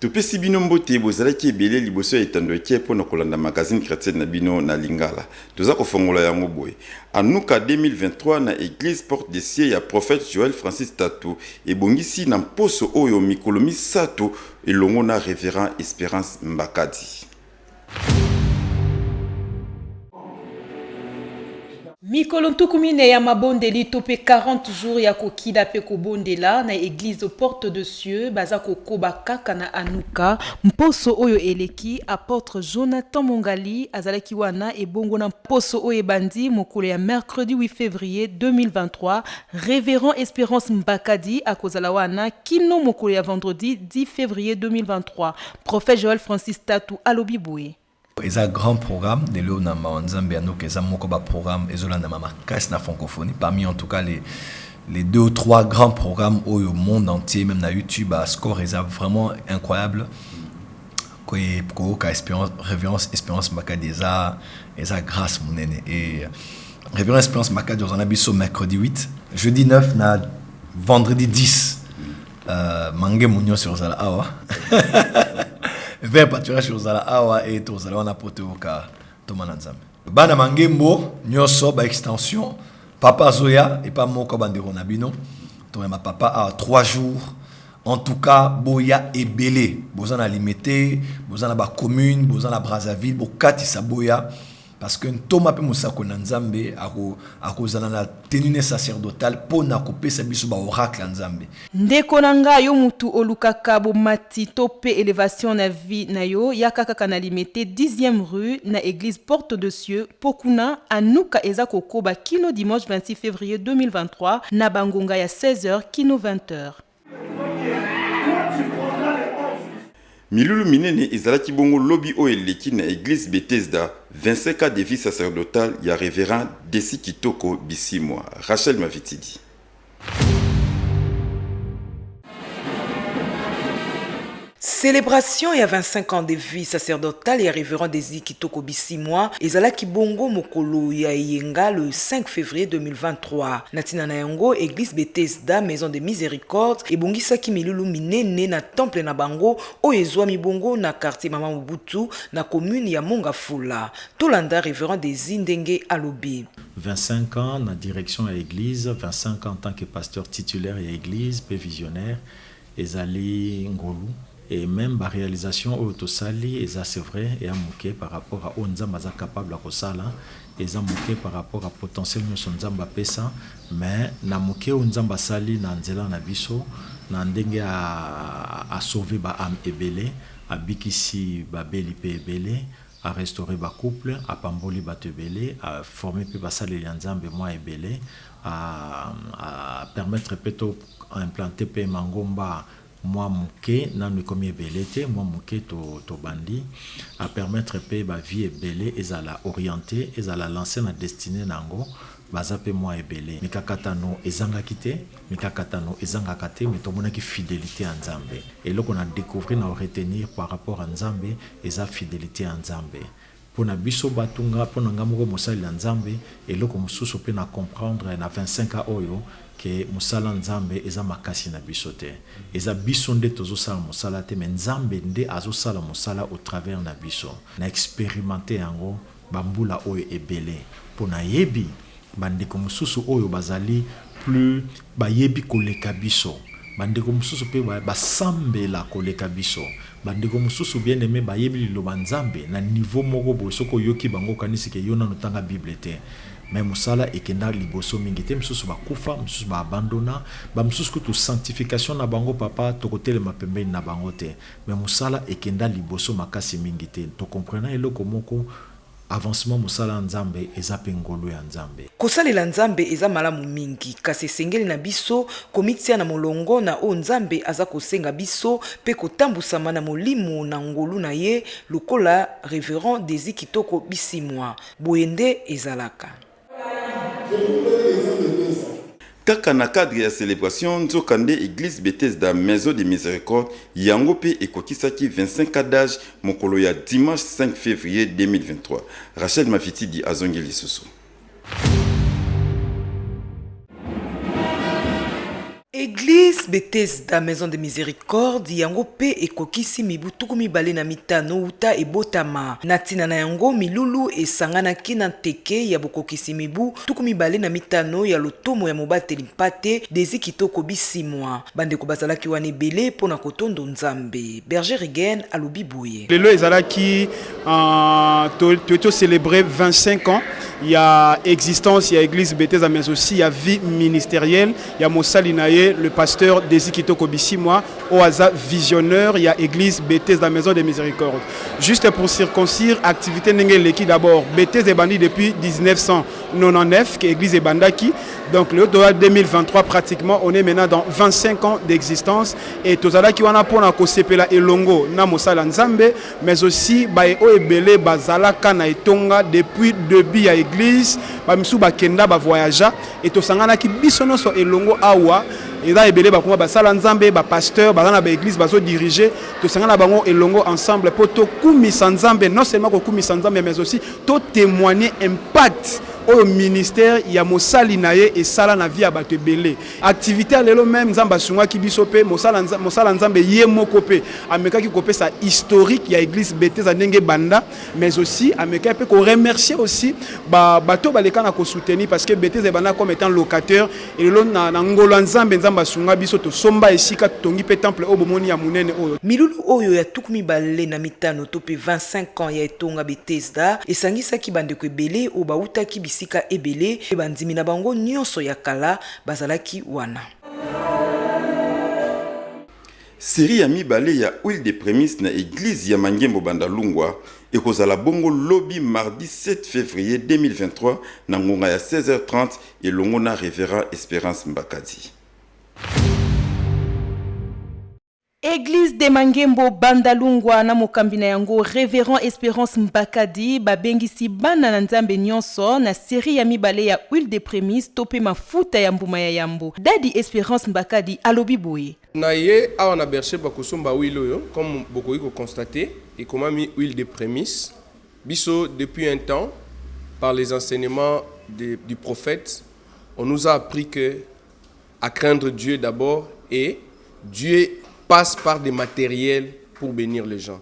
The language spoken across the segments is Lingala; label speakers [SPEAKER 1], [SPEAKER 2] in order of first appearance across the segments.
[SPEAKER 1] Topesi bino mbote, bozalaki ebele liboso ya etando eke mpo na kolanda magazine chretienne na bino na lingala. Toza kofongola yango boye, Hanukkah 2023 na eglise Porte de Cieux ya Prophète Joël Francis Tatu ebongisi na mposo oyo mikolo misato elongo na Reverend Esperance Mbakadi.
[SPEAKER 2] Mikolo ntuku mine ya mabondeli to mpe 40 jours ya kokila mpe kobondela na eglise Porte de Cieux baza kokoba kaka na Anuka. Mposo oyo eleki, apotre Jonathan Mongali azalaki wana ebongo na mposo oyo ebandi mokolo ya mercredi 8 fevrier 2023, Reverend Esperance Mbakadi akozala wana kino mokolo ya vendredi 10 fevrier 2023. Prophète Joël Francis Tatu alobi boye, Eza grand
[SPEAKER 3] programme de lelo na mawa nzambe ya noki eza moko ba programme ezolandama makasi na francophonie parmi en tout cas les les deux ou trois grands programmes oyo monde entier même na youtube ba score eza vraiment incroyable koye koyoka espérance révérence espérance makadi eza eza grâce monene et révérence espérance makadi ozana biso mercredi 8 jeudi 9 na vendredi 10 Euh, mange munyose ozala awa ver paturage ozala awa e tozala wana mpo toyoka ntoma na nzambe bana mangembo nyonso baextension papa azoya epa moko bandeko na bino toyamba papa awa 3 jours en tout cas boya ebele boza na limete boza na bacommune boza na brazzaville bokatisa boya Parce que ntoma mpe mosakoli na Nzambe ako, akozala na tenue sacerdotale mpo na kopesa biso ba oracle ya Nzambe. Ndeko na nga
[SPEAKER 2] yo mutu olukaka bomati to pe elevation na vie na yo yaka kaka na limete dixième rue na eglise porte de cieux po kuna anuka eza kokoba kino dimanche 26 fevrier 2023 na ba ngonga ya 16 heures kino 20 heures.
[SPEAKER 1] Milulu minene ezalaki bongo lobi oyo eleki na eglise Bethesda 25 cas de vie sacerdotale ya Reverend Desi Kitoko Bisimwa. Rachel Mavitidi.
[SPEAKER 4] Celebration ya 25 ans de vie sacerdotale ya Reverend Desi Kitoko Bisimwa ezalaki bongo mokolo ya eyenga le 5 fevrier 2023. Na tina na yango, Eglise Bethesda Maison de Misericorde ebongisaki milulu minene na temple na bango oyo ezwami bongo na quartier Mama Mobutu na commune ya Mongafula. Tolanda Reverend Desi ndenge alobi. 25 ans
[SPEAKER 5] na direction ya eglise, 25 ans en tant que pasteur titulaire ya eglise mpe visionnaire, Ezali ngolu et meme ba realisations oyo tosali eza c'est vrai eya muke par rapport a oyo Nzambe aza capable ya kosala, eza muke par rapport a potentiel nionso Nzambe apesa mais na muke oyo Nzambe asali na nzela na biso na ndenge a a sauver ba ames ebele, abikisi babeli pe ebele, A restaurer ba couple, a pamboli batu ebele, a former pe basaleli ya Nzambe mwa ebele, a permettre pe to implanter pe mangomba mwa muke, nanu ekomi ebele te, mwa muke to bandi, a permettre pe ba vies ebele ezala orienter, ezala lancer na destinee na yango, baza pe mwa ebele. Mikakatano ezangaki te. Mikakatano ezangaka te mais tomonaki fidelite ya Nzambe. Eloko na decouvrir na retenir par rapport ya Nzambe eza fidelite ya Nzambe pona biso batu nga pona nga moko mosali ya Nzambe eloko mususu pe na comprendre na 25 ans oyo que musala Nzambe eza makasi na biso te eza biso nde tozo sala musala te mais Nzambe nde azo sala musala au travers na biso na experimenter yango bambula oyo ebele mpo nayebi bandeko mosusu oyo bazali plus bayebi koleka biso, bandeko mosusu mpe basambela koleka biso, bandeko mosusu bien aime bayebi liloba Nzambe na niveau moko boye soki oyoki bango okanisi ke yo nanu otanga bible te mais mosala ekenda liboso mingi te misusu bakufa misusu ba abandona ba misusu kutu sanctification na bango papa tokotelema pembeni na bango te Mais musala ekenda liboso makasi mingi te to comprena eloko moko avancement musala ya nzambe eza pe ngolu ya nzambe. Kosalela Nzambe
[SPEAKER 4] eza malamu mingi, kasi esengeli na biso komitia na molongo na oyo Nzambe aza kosenga biso mpe kotambusama na Molimo na ngolu na ye, lokola Reverend Desi Kitoko Bisimwa. Boye nde ezalaka.
[SPEAKER 1] Kaka na cadre ya celebration, nzokande eglise Bethesda Maison de Misericorde yango mpe ekokisaki 25 ans d'age mokolo ya dimanche 5 fevrier 2023. Rachel Mafitidi azongi lisusu.
[SPEAKER 4] Eglise Bethesda Maison de Misericorde yango mpe ekokisi mibu tuku mibale na mitano wuta ebotama. Na ntina na yango, milulu esanganaki na nteke ya bokokisi mibu tuku mibale na mitano ya lotomo ya mobateli mpate Desi Kitoko Bisimwa. Bandeko bazalaki wana ebele mpo na kotondo Nzambe. Berger Reagan alobi boye. Lelo ezalaki
[SPEAKER 6] toye to celebrer 25 ans ya existence ya Eglise Bethesda mais aussi ya vie ministerielle. ya mosali na ye le pasteur Desi Kitoko Bisimwa oyo aza visionneur ya église Bethesda la maison de miséricorde juste pour circoncire activité ndenge eleki d'abord Bethesda ebandi depuis 1999 que église ebandaki donc le dola 2023 pratiquement on est maintenant dans 25 ans d'existence et tozalaki wana pona kosepela elongo na mosala nzambe mais aussi baye oyo ebele bazala ka na etonga depuis debut ya eglise ba misu ba kenda ba voyagea et tosangana ki biso noso elongo awa eza ebele bakoma basala nzambe ba pasteur baza na ba eglise bazo dirige tosangana bango elongo ensemble po to kumisa nzambe non seulement ko kumisa nzambe mais aussi to témoigner impact oyo ministère ya mosali na ye esala na vie ya bato ebele Activite ya lelo meme Nzambe asungaki biso pe mosala mosala Nzambe ye moko pe amekaki kopesa historique ya église Bethesda ndenge banda mais aussi amekaki pe ko remercier aussi ba bato baleka na ko soutenir parce que Bethesda ebanda comme étant locataire et lelo na, na ngolo ya Nzambe Nzambe asunga biso tosomba esika tongi pe temple oyo bomoni ya munene oyo Milulu oyo ya tuku
[SPEAKER 4] mibale na mitano to pe 25 ans ya etonga Bethesda esangisaki bandeko ebele oyo bawutaki bisika ebele mpe bandimi na bango nyonso ya kala bazalaki wana.
[SPEAKER 1] Serie ya mibale ya Huile de premisse na eglise ya Mangembo Bandalungwa ekozala bongo lobi mardi 7 fevrier 2023 na ngonga ya 16h30 elongo na Reverend Esperance Mbakadi.
[SPEAKER 2] Eglise de Mangembo Bandalungwa na mokambi na yango Reverend Esperance Mbakadi babengisi bana na Nzambe nionso na serie ya mibale ya Huile de premise to pe mafuta ya mbuma ya yambo. Dady Esperance Mbakadi alobi boye. Na ye awa
[SPEAKER 7] na Berchez bakosomba huile oyo comme bokoki ko constater ekomami huile de premise. Biso depuis un temps par les enseignements de du prophète on nous a appris que, A craindre Dieu d'abord et Dieu passe par des matériels pour bénir les gens.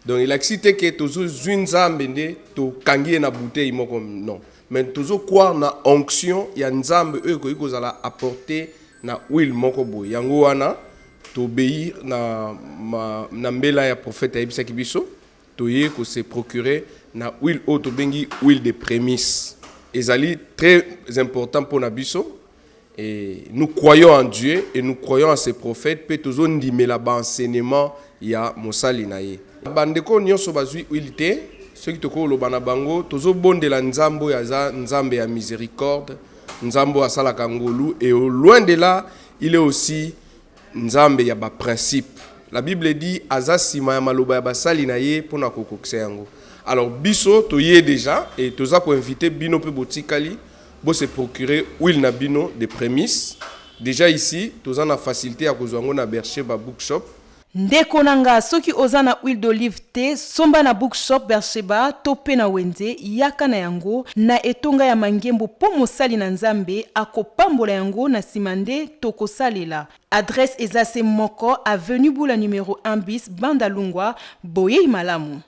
[SPEAKER 7] Donc il elakisi te ke tozozwi nzambe nde tokangi ye na bouteille moko non mais tozo croire na onction ya nzambe oyo ekoki kozala apporte na huile moko boye yango wana tobei na, na mbela ya profete ayebisaki biso Toye ko se procurer na huile oyo tobengi huile de prémisse. Ezali très important mpo na biso. Et nous croyons en Dieu et nous croyons en ses prophètes mpe tozondimela ba enseignements ya mosali na ye. Bandeko nyonso bazwi huile te. soki tokoki koloba na bango tozobondela nzambe oyo aza nzambe ya misericorde nzambe oyo asalaka ngolu e loin de là il est aussi Nzambe ya ba principe. La Bible dit aza sima ya maloba ya basali na ye pona kokokisa yango. Alors biso toye deja et toza ko inviter bino pe botikali bo se procurer huile na bino de premise. Deja ici toza na facilite ya kozwa yango na Bercheba Bookshop. Ndeko na
[SPEAKER 2] nga soki oza na huile d'olive Te, somba na bookshop Beersheba to pe na wenze, yaka na yango na etonga ya mangembo po mosali na Nzambe akopambola yango na sima nde tokosalela. Adresse eza se moko, avenue Bula numero un bis, Banda Lungwa. Boyeyi malamu.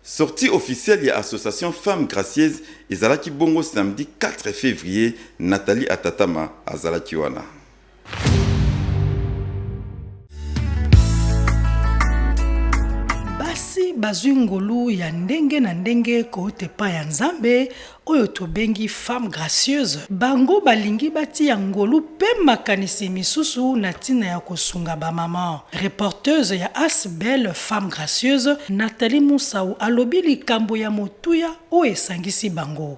[SPEAKER 2] Sortie
[SPEAKER 1] officielle ya Association Femmes Gracieuses ezalaki bongo samedi 4 fevrier, Nathalie Atatama azalaki wana.
[SPEAKER 8] basi bazwi ngolu ya ndenge na ndenge kouta epai ya Nzambe oyo tobengi femme gracieuse. Bango balingi batia ngolu mpe makanisi misusu na ntina ya kosunga bamama. Reporteuse ya As Belle Femme Gracieuse, Nathalie Musau alobi likambo ya motuya oyo esangisi bango.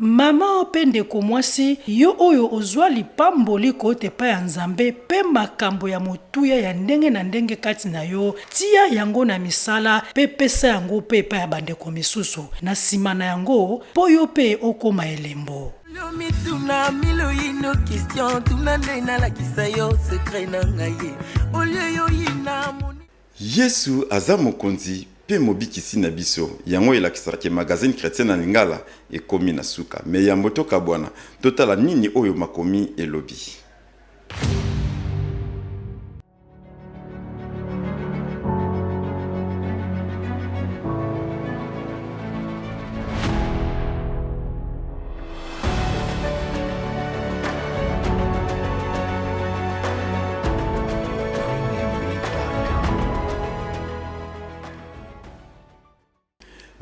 [SPEAKER 9] Mama
[SPEAKER 8] pe ndeko mwasi, yo oyo ozwa lipamboli kouta epai ya Nzambe pe makambo ya motuya ya ndenge na ndenge kati na yo, tia yango na misala pe pesa yango pe epai ya bandeko misusu, na sima na yango, po yo pe okoma elembo. Yo mituna
[SPEAKER 10] mille ou une question, tuna nde nalakisa yo secret na ngai, au lieu y'oyina. Yesu
[SPEAKER 1] aza Mokonzi pe Mobikisi na biso. Yango elakisaka ke magazine Chretien na lingala ekomi na suka. Mais yambo tokabwana, totala nini oyo makomi elobi.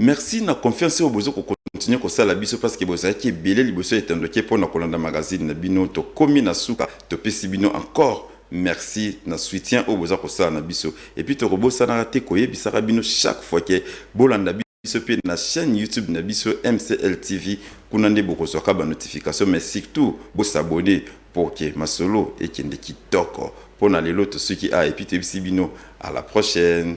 [SPEAKER 1] merci na confiance oyo bozo kokontinue kosala biso parceke bozalaki ebele liboso ya etandoke mpo na kolanda magazine na bino tokomi na suka topesi bino encore merci na soutien oyo boza kosala na biso epuis tokobosanaka te koyebisaka bino chaque fois ke bolanda biso mpe na chaine YouTube na biso MCL TV kuna nde bokozwaka ba notification mais surtout bo s'abonner pour que masolo ekende kitoko mpo na lelo tosuki awa et puis toyebisi bino à la prochaine.